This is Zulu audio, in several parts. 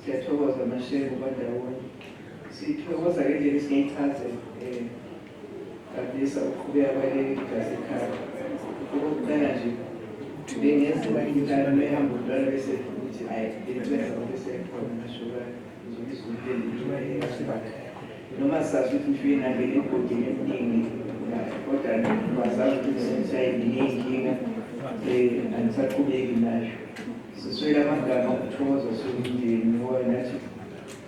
Siyathokoza Mashevu kwandaweni. Sithokoza ngendlela esingayichaze um Gabisa ukuqhubeka kwaleli lasekhaya. Okokuqala nje bengenziwa imidlalo mehamba umntwana bese ukuthi ayi bengibenza ngobesekhona nashukana ngizobisa umntendiyasibakhe noma sazi ukuthi mfike nangena egodini eminingi kodwa bazazi ukuthi ngisayinginingi inkinga um angisaqhubeki nayo Siswele amagama okuthokoza siwumndeni ngoba nathi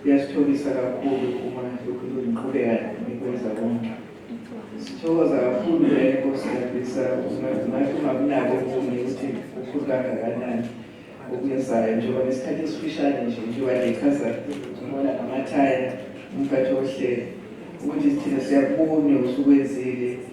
kuyasitholisa kakhulu uma lokhu niqhubeka nikwenza konke. Sithokoza kakhulu naye Nkosi Yandisa ungathi ungakunako ukunye ukuthi ukhulu kangakanani okwenzayo njengoba nesikhathi esifishane nje njengoba ngichaza ngibona ngamathaya umphathi wohlelo ukuthi thina siyakubona usukwenzile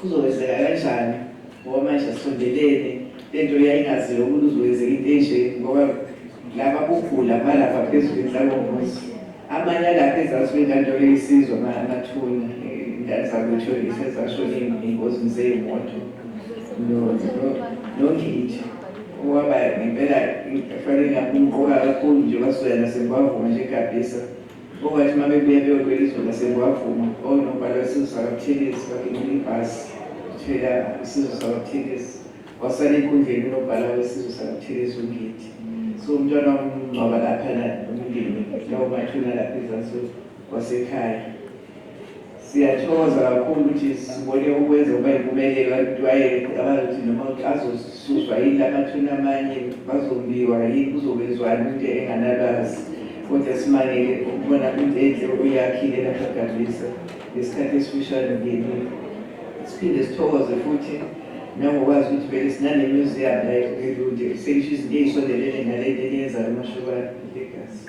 Kuzokwenzeka kanjani ngoba manje asondelene lento yayingaziwa ukuthi uzokwenzeka into enje ngoba laba kugula malapha phezulu enhlakomuzi amanye alapha ezansi kwentando eyisizwa amathuna ingane zakwethu isezashona engozini zeyimoto nongidi owaba ngempela kufanele ngakumqoka kakhulu nje kwasukela nasemkwavuma nje gabhisa Okwathi uma bebuya beyolwela izwe lasekwavuma onobhala wesizwe sakabuthelezi bagibela ibhasi thela isizwe sakabuthelezi wasala enkundleni unobhala wesizwe sakabuthelezi ungidi so umntwana wamngcwaba lapha la umndeni lawo mathuna lapha ezansi wasekhaya Siyathokoza kakhulu ukuthi sibone ukwenza ukuba yimpumelelo abatwayele kucabange ukuthi noma azosuswa yini lamathuna amanye bazombiwa yini kuzokwenzwani into enganalwazi kodwa simangele ukubona into enhle okuyakhile lapha Gabisa ngesikhathi esifishane ngenile siphinde sithokoze futhi nangokwazi ukuthi vele sinanemuseum la elude selisho izinto ey'sondelene nalento eliyenzayo amashukane legazi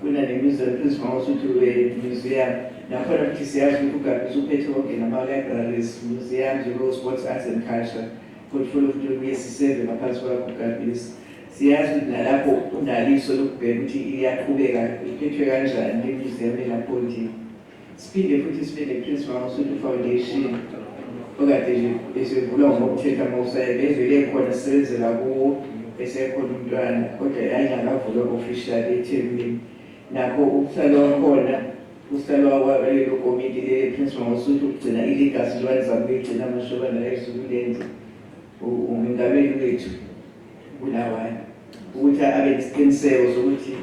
kunanemizo ephezulu usuthi we-museum nakhona futhi siyazi ukuthi ugabi usuphethe konke nama-libraries museum njengoo-sports arts and culture portfolio futhi kuye siseve ngaphansi kwakho ugabisi siyazi ukuthi nalapho unaliso lokubheka ukuthi iyaqhubeka iphethwe kanjani le-museum elapho ndini Siphinde futhi sibe nePrince Mangosuthu Foundation okade nje esivulwa ngokuthetha mawusaye bevele khona sisebenzela kuwo esekhona umntwana kodwa yayingakavulwa official eThekwini nakho ukuhlala wakhona uhlala walelo komiti leli Prince Mangosuthu ukugcina iligasi lwalizama ukuyigcina amashoba nayo esukulenza umengameli wethu Bulawayo ukuthi abe nesiqiniseko sokuthi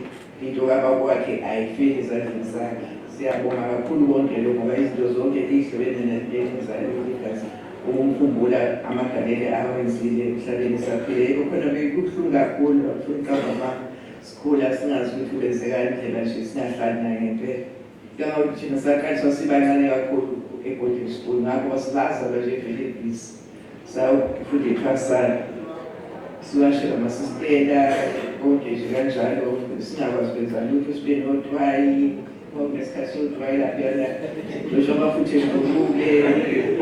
into kababa wakhe ayifeli ezandleni zakhe. Siyabonga kakhulu konke lokho ngoba izinto zonke ezihlobene nalezayo igazi ukumkhumbula amagalele awenzile emhlabeni saphile yebo khona bekubuhlungu kakhulu bafuna ucabanga sikhula singazi ukuthi kwenzeka indlela nje singahlali naye ngempela Ngicabanga ukuthi thina saqaliswa sibancane kakhulu e-boarding school ngakho basibazalwa nje vele ibhizi sawufunda iphasana siwashela amasistela konke nje kanjalo singakwazi ukwenza lutho sibe nothwayi ngesikhathi sothwayi laphiyana losho amafuthi evukuke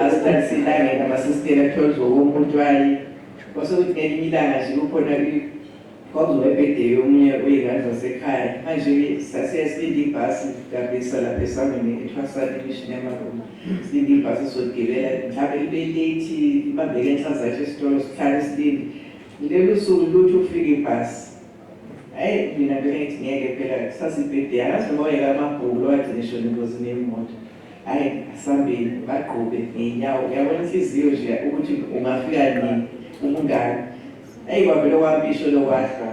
asithathi silangeni amasistela kuthiwa kuzowomuthwayi kwasekuthi ngelinye ilanga nje kukhona Kwakuzoba ibhedey omunye weyngane zasekhaya manje-ke sasiye silinde ibhasi kabisa lapha esangweni ethwasani imishini yamaroma silinde ibhasi soligibela mhlawumbe ibe late ibambeke enhla zathi esitolo sihlale silinde lelo suku luthi ukufika ibhasi Hey mina bengithi ngeke phela kusasibhede angazi noma wayeka amabhuku lowagcina ishona engozini yemoto hayi asambeni bagqube ngey'nyawo uyabona inhliziyo nje ukuthi ungafika nini umngane Eyi kwavele okwampisho lokwahlwa.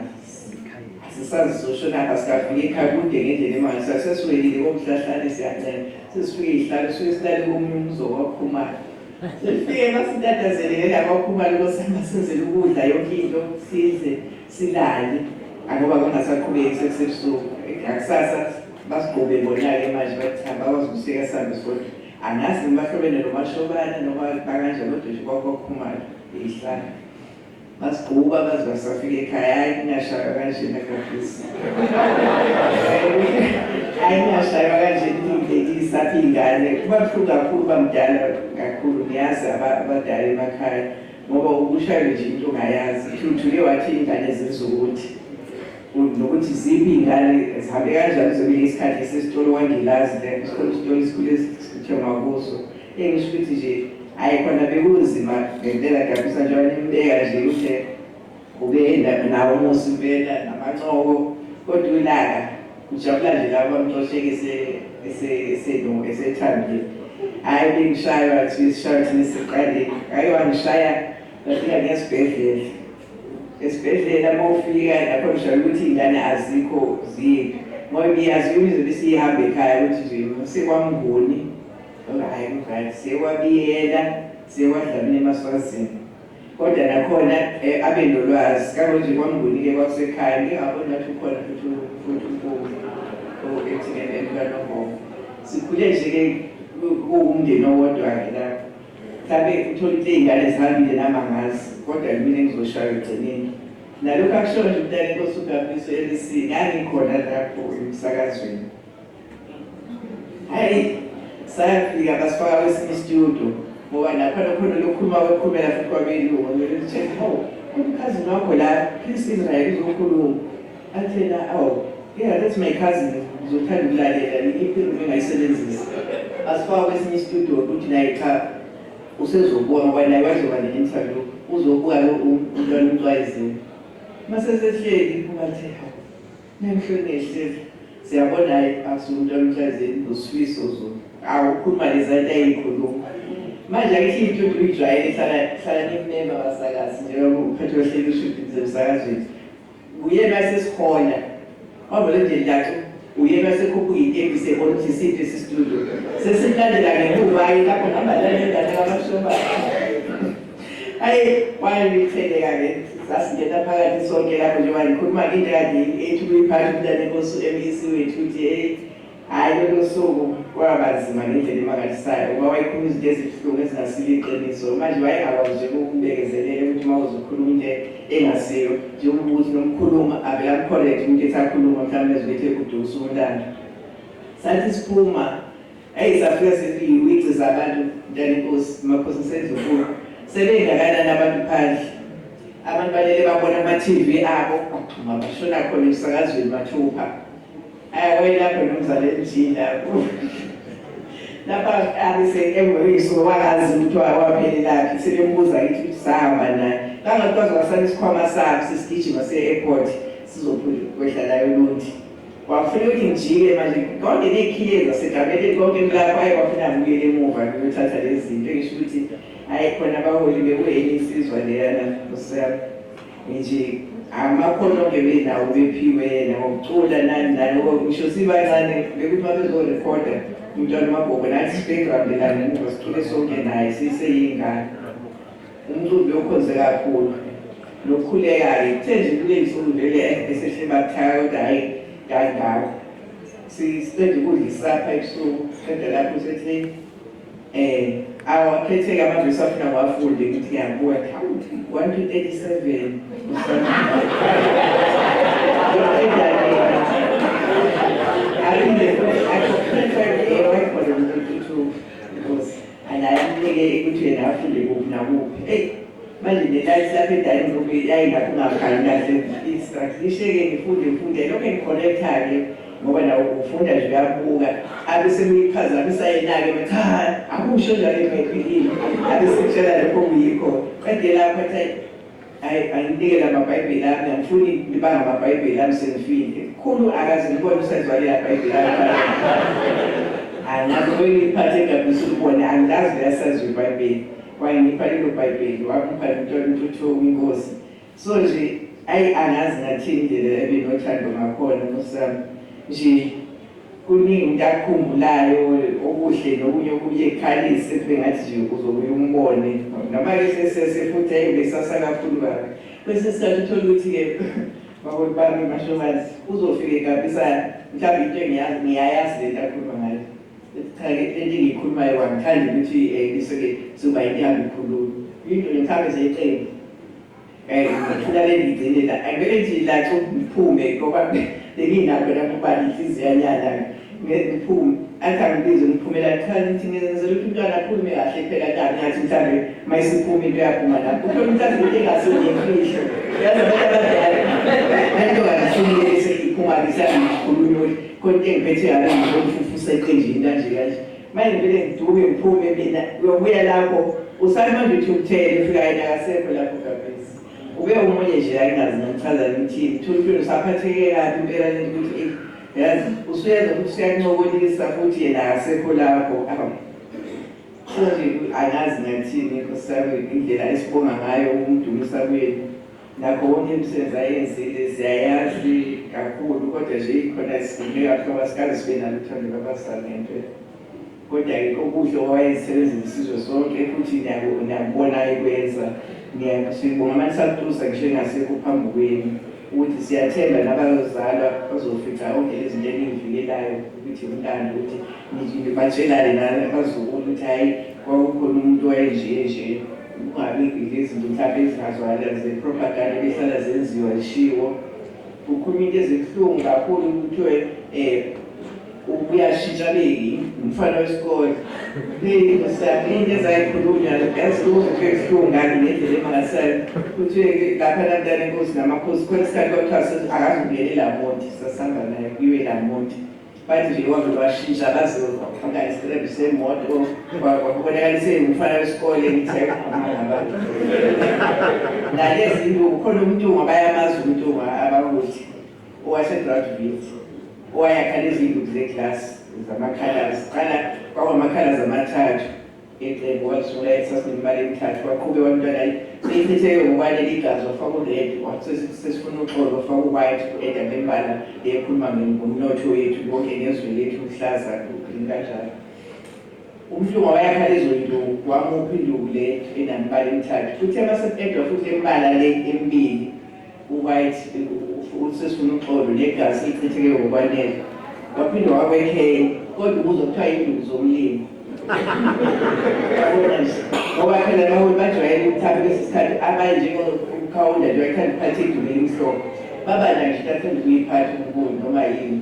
Asisazi sosho naka sikafika ekhaya kude ngendlela emali sasesiwelile komhlahlane siyancela. Sesifike ihlalo suke silale komunye umuzi okwakhumala. Sifike basintathazelele la kwakhumala kosama senzele ukudla yonke into sidle silale. Angoba kungasaqhubeki sekusebusuku. Ngakusasa basigqobe bona-ke manje bathi cha bakwazi ukusika sihambe sodwa. Angazi ngibahlobene nomashobane noma bakanjani kodwa nje kwakwakhumala ihlala. Masigquba baze basafika ekhaya hayi kungashaywa kanjena kabisa. Hayi kungashaywa kanjena ukundlekisa apha iy'ngane kuba buhlungu kakhulu uba mdala kakhulu ngiyazi abadala emakhaya ngoba ukushaywe nje into ongayazi thuthuke wathi iy'ngane zenza ukuthi nokuthi ziphi iy'ngane zihambe kanjani zobile isikhathi esesitolo wangilazi le isitolo isitolo esikhule sithengwa kuso Engisho ukuthi nje hayi khona bekunzima ngempela kuyabisa njengoba nimbeka nje ukuthi ubeyenda nawo umusi impela namancoko kodwa ulaka ujabula nje labo bamxosheke esethambile hhayi bengishaywa kuthiwa isishaywa thina siqalile hhayi wangishaya ngafika ngesibhedlela esibhedlela uma ufika lapho ngishaya ukuthi iy'ngane azikho ziphi ngoba iyazi ukuthi izobe isiyihambe ekhaya ukuthi nje sekwamnguni Hayi mngani sewabiyela sewadlamini emaswazini kodwa nakhona eh, abe nolwazi kabo nje kwamnguni-ke kwakusekhaya ngingaboni ngathi ukhona futhi futhi umfumu o-ethileleni kanogogo sikhule nje-ke kuwumndeni owodwa-ke lapho mhlawumbe uthole ukuthi iy'ngane zihambile namangazi kodwa yimina engizoshaywa egcineni nalokhu akushoyo nje umntana inkosi ugabiso elisini angikhona lapho emsakazweni Hayi sayafika basifaka kwesinye studio ngoba lapha lokhona lokhuluma wekhulumela futhi kwabelungu ngithe hawu umkhazi wakho la please Israel uzokhuluma athena awu yeah that's my cousin ngizothanda ukulalela iphiluma engayisebenzisa asifaka kwesinye studio ukuthi naye cha usezobona ngoba naye wazoba ne-interview uzobuka lo umntwana umntwayizini masesehleli ubathe hawu Ngihlwe ngehlezi siyabona hayi akusuke umuntu emhlazeni ngosifiso zona awu ukhuluma lezanto ayikhuluma manje akithi into nje uyijwayele hlala hlala nimema abasakazi njengoba uphethe ohleli ushibhi zemsakazweni uyena sesikhona wavele nje ndathi uyena sekhuphuka itebi sebona ukuthi siphi sisitudio sesimlandela ngemuva-ke lapho ngihamba nalengane kamashomba Ayi wayeliqhele kake sasingena phakathi sonke lapho nje wayikhuluma into kade ethi kuyiphatha umntana inkosi u-MEC wethu ukuthi hey hhayi lolo suku kwabanzima ngendlela emangalisayo ngoba wayekhuluma izinto ezibuhlungu ezingasilo iqiniso manje wayengakwazi nje ukubekezelela ukuthi uma uzokhuluma into engasiyo njengoba ukuthi nomkhuluma avele amkholethe umuntu ethi akhuluma mhlawumbe ezibethe kudusa umntana sathi siphuma Eyi safika sefika ukuyigciza abantu mntana inkosi makhosi ngisendlunkulu sebengakanani abantu phandle abantu balele babona ama-tv abo baxhuma bashona khona emsakazweni mathupha ayawayelapho nomzala emjini lapho lapha abise emvekisuke wakazi ukuthi waphelelaphi sebembuza kithi ukuthi sahamba naye kangathi kwazwakasana isikhwama sakho sesigijima se-airport sizokwehla layo lundi Wafuna ukuthi ngijike manje konke ney'khiye zasegameni konke emlala kwaye kwafuna ngibuyele emuva ngiyothatha lezi zinto engisho ukuthi hhayi khona abaholi bekuyenye insizwa leyana kusam nje amakhono-ke benawo bephiwe yena ngokucula nani nani ngisho sibancane bekuthi uma bezorekhoda umntwana umagogo nathi sibekubambelane ngoba sicule sonke naye siseyingane Umcimbi okhonze kakhulu nokhulekayo kuthe nje kunensuku nje le esehle bakuthaka kodwa hhayi kangako siqeda ukudla isapha ebusuku qeda lapho sethi um awakhetheke amavesi afuna wafunde ukuthi yakuwa khawuthi one to thirty seven Anayamnike ukuthi yena afunde kuphi nakuphi. Hey, manje nelayithi lapha edayini lokhu yayi lapho ungakhali kahle i-structure. Ngisheke ngifunde ngifunde lokho engikhonekthake ngoba nawo ufunda nje uyabuka abe semiphazamisa yena-ke bathi ha akusho njalo ebhayibhilini abe sekutshela lokho kuyikho qede lapho athi Hayi anginike lamabhayibheli ami angifuni liba ngamabhayibheli ami sengifile. Khulu akaze ngibone usenziwalela bhayibheli ami. Angazi ubengiphathe ngabisa ukubona angazi liyasazi ibhayibheli. Wangipha lelo bhayibheli wangipha nomntwana uNtuthuko inkosi. So nje ayi angazi ngathini indlela ebinothando ngakhona Nkosi yami nje. Kuningi umuntu akukhumbulayo okuhle nokunye okuye kukhalise kube ngathi nje uzobuye umbone noma ke sesese futhi ayi besasa kakhulu kabi. Kwesinye isikhathi uthole ukuthi ke makoti bami mashobazi uzofike kabisa mhlawumbe into engiyazi ngiyayazi lento akhuluma ngayo ethi cha ke lento engiyikhulumayo wangithanda ukuthi eh, bese ke soba into ihamba ikhuluma into nje mhlawumbe zeqembu Eh, ngithula lengigcine la. Angeke nje la cho ngiphume ngoba benginakho la ngoba inhliziyo yanyala. Ngiphume. Athi angibize ngiphumela kuthiwa ngithi ngenzela ukuthi umntwana akhulume kahle phela la ngathi mhlawumbe mayisiphuma into yaphuma la. Ukhona umuntu athi into engase ngiyifihlo. Yazi abantu abadala. Lento kangifunile bese iphuma ngisakhuluma ukuthi konke engiphethe yalo ngizomfufusa eqenjini kanje kanje. Manje ngivele ngiduke ngiphume mina uyobuya lapho usale manje uthi umthele ufika yena akasekho lapho gabhesi ube omunye nje ayingazi ngichaza ngithini thulufile usaphatheke kabi impela lento ukuthi eh, yazi usuyenza ukuthi usuyancokolisa futhi yena akasekho lapho manje angazi ngathini nkosiyami indlela esibonga ngayo ukumdumisa kwenu Nakho konke emsebenzi ayenzile siyayazi kakhulu kodwa nje ikhona sikhululeka kuthiwa masikaze sibe naluthando lwabazali ngempela kodwa-ke kokuhle owayesebenzile isizwe sonke futhi nakubona ekwenza sibonga manisatusa ngisho engasekho phambi kwenu ukuthi siyathemba nabazalwa bazofica onke izinto eningivikelayo ukuthi umlando ukuthi nibatshelane nabazukulu ukuthi hhayi kwakukhona umuntu wayenje nje Kungabi nezinto mhlampe ezingazwakala zepropaganda ebehlala zenziwa zishiwo. Kukhulunywa into ezibuhlungu kakhulu kuthiwe um uyashintsha beki umfana wesikole into ezayikhulunywa yazibuza into ebuhlungu ngani ngendlela emangasela kuthiwe lapha lantana inkosi namakhosi khona isikhathi kwakuthiwa akazi ukungenela monti sasihamba naye kuyiwe la monti bathi nje kodwa bashintsha kaziwa fika isirebu semoto kwabonakalise umfana wesikole ngithe ngabantu nalezi nto ukhona umntungwa bayamazi umntungwa abakuthi owasegraduate owayakha lezi nduku zeglasi zamakhalasi qala kwawamakhalasi amathathu Iqembu walisula esasineminyaka emithathu waqhube wamntwana ichitheke ngokwane ligazi wafaka ured sesifuna uxolo wafaka uwhite ku-eda bembala ekhuluma ngomnotho wethu konke ngezwe lethu luhlaza green kanjalo umhlungu wayakha lezo nduku wamuphi induku le enamibala emithathu futhi emaseqedwa futhi embala le emibili uwhite ukuthi sesifuna uxolo negazi lichitheke ngokwanele waphinde wakwekheyi kodwa ubuzo kuthiwa induku zomlimi ngoba phela naholi bajwayele ukuthatha kwesinye isikhathi abanye njengokukhawunda nje wayithanda ukuphatha induku elimhlophe babana nje bathanda ukuyiphatha ubukungu noma yini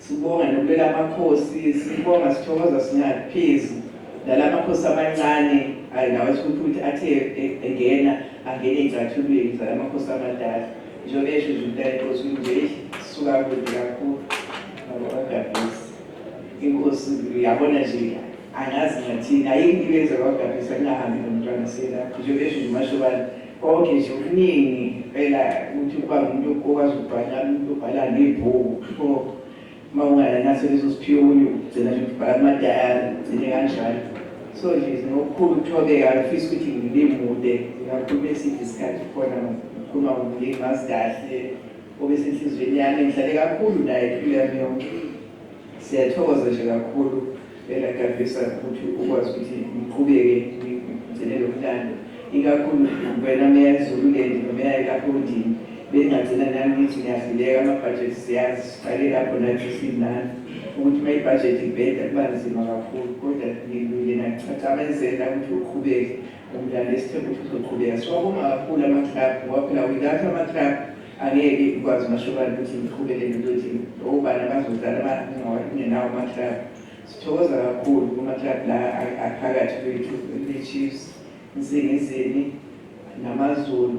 Sibonga nokulela amakhosi sibonga sithokoza singathi phezu nala makhosi amancane ayi nawo esikuthi ukuthi athe e- engena angene ey'cathulweni zala makhosi amadala njengoba esho nje umntana inkosi ukuthi nje "Eish, sisuka kude kakhulu abakagabhisi inkosi uyabona nje angazi ngathini ayinto ibenza kwagabhisa kungahambi nomntwana selapho njengoba esho nje umashobane Konke nje okuningi impela ukuthi ukuba ngumuntu okwazi ukubhala umuntu obhala nebhuku pho uma ungayanase leso siphiwuli ugcina nje ukubhala amadayari ugcine kanjalo so nje nokukhulu ukuthobeka ngifisa ukuthi ngilimude ngakhuluma eside isikhathi khona ngikhuluma ngomlimi ngazi kahle obesenhliziyweni yami ngihlale kakhulu naye impilo yami yonke siyathokoza nje kakhulu Ngicela Tagisa ukuthi ukwazi ukuthi ngiqhubeke ngigcine lo mdlalo, ikakhulu wena Meya Zululand noMeya kaPondini bengagcina nami ngithi ngiyahluleka amabhajethi siyazi siqale lapho nathi sinani ukuthi uma ibhajethi ibheda kuba nzima kakhulu, kodwa ngilungile nakucaca amenzela ukuthi uqhubeke. Umdlali esithemba ukuthi uzoqhubeka. Siwabonga kakhulu ama-club ngoba phela without ama-club angeke ikwazi uMashobane ukuthi ngiqhubeke nento thina. Obani abazodlala abangawali kungenawo ama-club. Sithokoza kakhulu kuma-club la aphakathi kwethu, kwiChiefs, Nsingizini, namaZulu.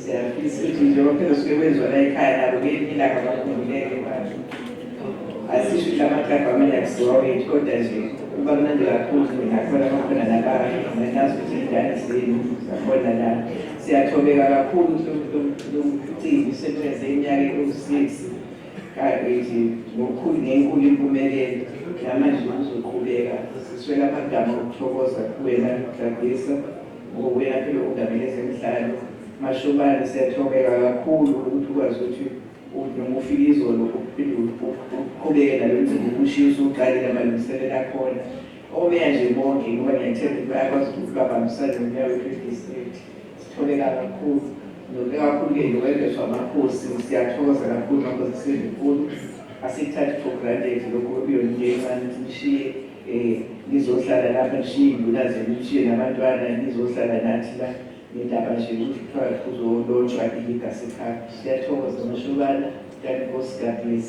Siyafisa ukuthi nje baphinde suke kwenziwa la ekhaya nabo ngelinye ilanga bakhululeke manje. Asisho ukuthi amaklabhu amele akusiwa wethu kodwa nje kuba mnandi kakhulu ngingakhona bakhona nabanye nginazi ukuthi iy'ngane zenu zakhona la. Siyathobeka kakhulu ukuthi lo mcimbi usebenze iminyaka ewu-six kanti nje ngokukhulu ngenkulu impumelelo namanje kuzoqhubeka siswela amagama okuthokoza kuwena Gladisa. Ngokuya phela odabeni ezemidlalo, Mashobane siyathobeka kakhulu ukuthi ukwazi ukuthi noma ufike izolo uphinde uqhubeke nalo mcimbi ukushiya usuqalile amalungiselelo akhona. Omeya nje bonke ngoba ngiyathemba ukuthi bayakwazi ukuthi babambisane nomeya wethu wedistrict. Sithobeka kakhulu. Sithobeka kakhulu-ke nokwengezwa amakhosi. Siyathokoza kakhulu makhosi kuSindlunkulu. Asikuthathi for granted lokhu okuyona into encane ukuthi nishiye. Eh nizohlala lapha nishiye induna zenu nishiye nabantwana nizohlala nathi la nendaba nje ukuthi kuthiwa kuzolotshwa iligasi ekhaya siyathokoza mashobana kanti nkosi god bless